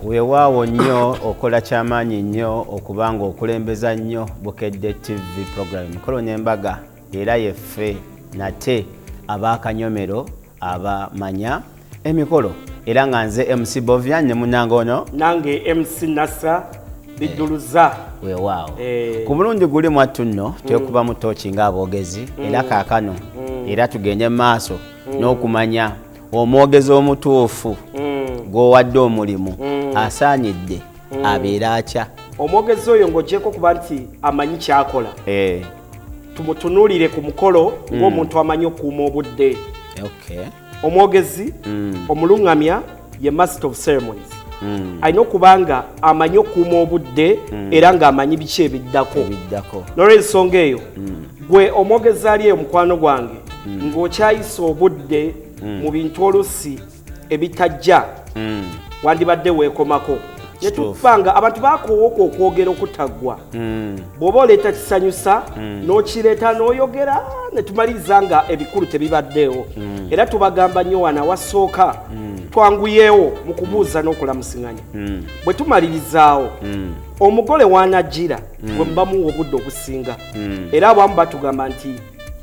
weewaawo nnyo okola kyamaanyi nnyo okuba nga okulembeza nnyo bukedde tv program mikolo n'embaga era yeffe nate abaakanyomero abamanya emikolo era nga nze mc bovia ne munange ono nange mc nasa bijuluza eh, wewaawo eh. ku mulundi guli mwattu nno mm. twekuba mu tooki nga aboogezi mm. era kaakano mm. era tugende mu maaso n'okumanya omwogezi omutuufu gwowadde omulimu asaanidde mm. abeera atya omwogezi oyo ng'ogyeko okuba nti amanyi kyakola eh. tumutunuulire ku mukolo mm. ng'omuntu amanyi okuuma obudde omwogezi mm. omuluŋŋamya ye master of ceremonies mm. alina okuba nga amanyi okuuma obudde era ng'amanyi biki ebiddako nolwensonga eyo gwe omwogezi ali eyo mukwano gwange ng'okyayisa obudde mu bintu olusi ebitajja mm. wandibadde weekomako netufanga abantu bakowooka okwogera okutaggwa mm. bw'oba oleeta kisanyusa mm. n'okireeta n'oyogera netumaliriza nga ebikulu tebibaddeewo mm. era tubagamba nnyo wana wasooka mm. twanguyeewo mu kubuuza mm. n'okulamusiŋanya mm. bwe tumalirizaawo mm. omugole wanajjira mm. bwe mubamuwa obudde obusinga mm. era abamu batugamba nti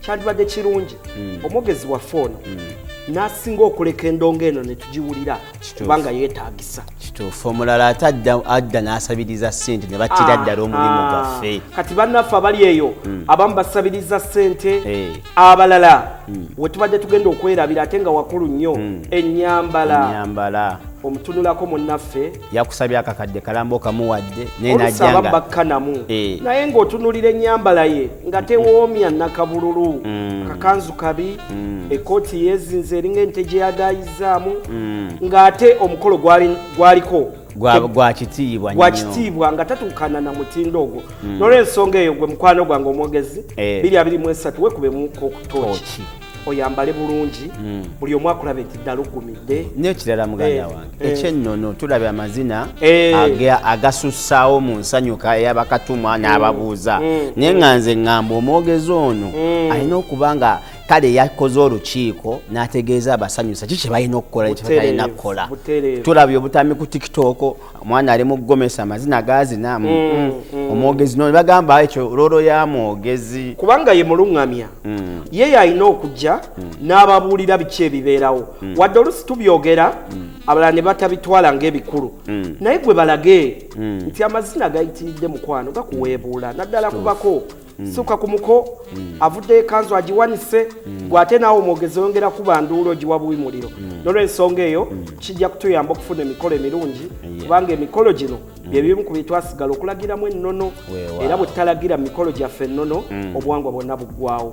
kyandibadde kirungi hmm. omwogezi waffe ono hmm. nasinga okuleka endongo eno netugiwulira kubanga yetagisa kituufu omulala ate adda nasabiriza sente nebatira ah, ddala omulimu ah. gwaffe kati bannaffe abali eyo hmm. abamu basabiriza sente eh. abalala wetubadde tugenda okwerabira ate nga wakulu nnyo enyambala omutunulako munnaffe yakusabye akakadde kalambo kamuwadde nayenaaba bakkanamu eh. naye ng'otunulira ennyambala ye nga tewoomya nakabululu mm. kakanzu kabi mm. ekooti yezinze eringa ente gye yagayizzaamu mm. ng'ate omukolo gwaliko gwa kitiibwa gwa kitiibwa nga tatuukana na mutindo ogwo nolwensonga eyo gwe mukwano gwange omwogezi eh. biri abiri mu esatu wekube muko okutooki oyambale bulungi hmm. buli omu akulabe nti ddala ogumidde nekirala muganda eh, wange eh. ekyennono tulabe amazina eh. agasussaawo mu nsanyuka eyabakatumwa hmm. n'ababuuza hmm. naye nga nze ŋŋamba omwogezi ono alina okuba nga kale yakoze olukiiko n'ategeeza abasanyusa ki kye balina okukola kyebalina kukola tulabye obutambi ku tiktok omwana ali mu gomesa amazina gazinaamu mm, mm. mm. omwogezi no bagamba ekyo lolo ya mwogezi kubanga ye muluŋŋamya mm. ye yalina okujja mm. n'ababuulira biki ebibeerawo mm. wadde olusi tubyogera mm. abalala ne batabitwala ng'ebikulu mm. naye gwe balage mm. nti amazina gayitiridde mukwano gakuweebuula naddala kubako mm. suka ku muko mm. avudde ekanzu agiwanise mm. gwe ate naawe omwogezi oyongera kuba nduulo giwa buwi muliro mm. nolwensonga eyo mm. kijja kutuyamba okufuna emikolo emirungi yeah. kubanga emikolo gino mm. byebimu ku byetwasigala okulagiramu ennono era bwe tutalagira mu mikolo gyaffe ennono mm. obuwangwa bwonna buggwawo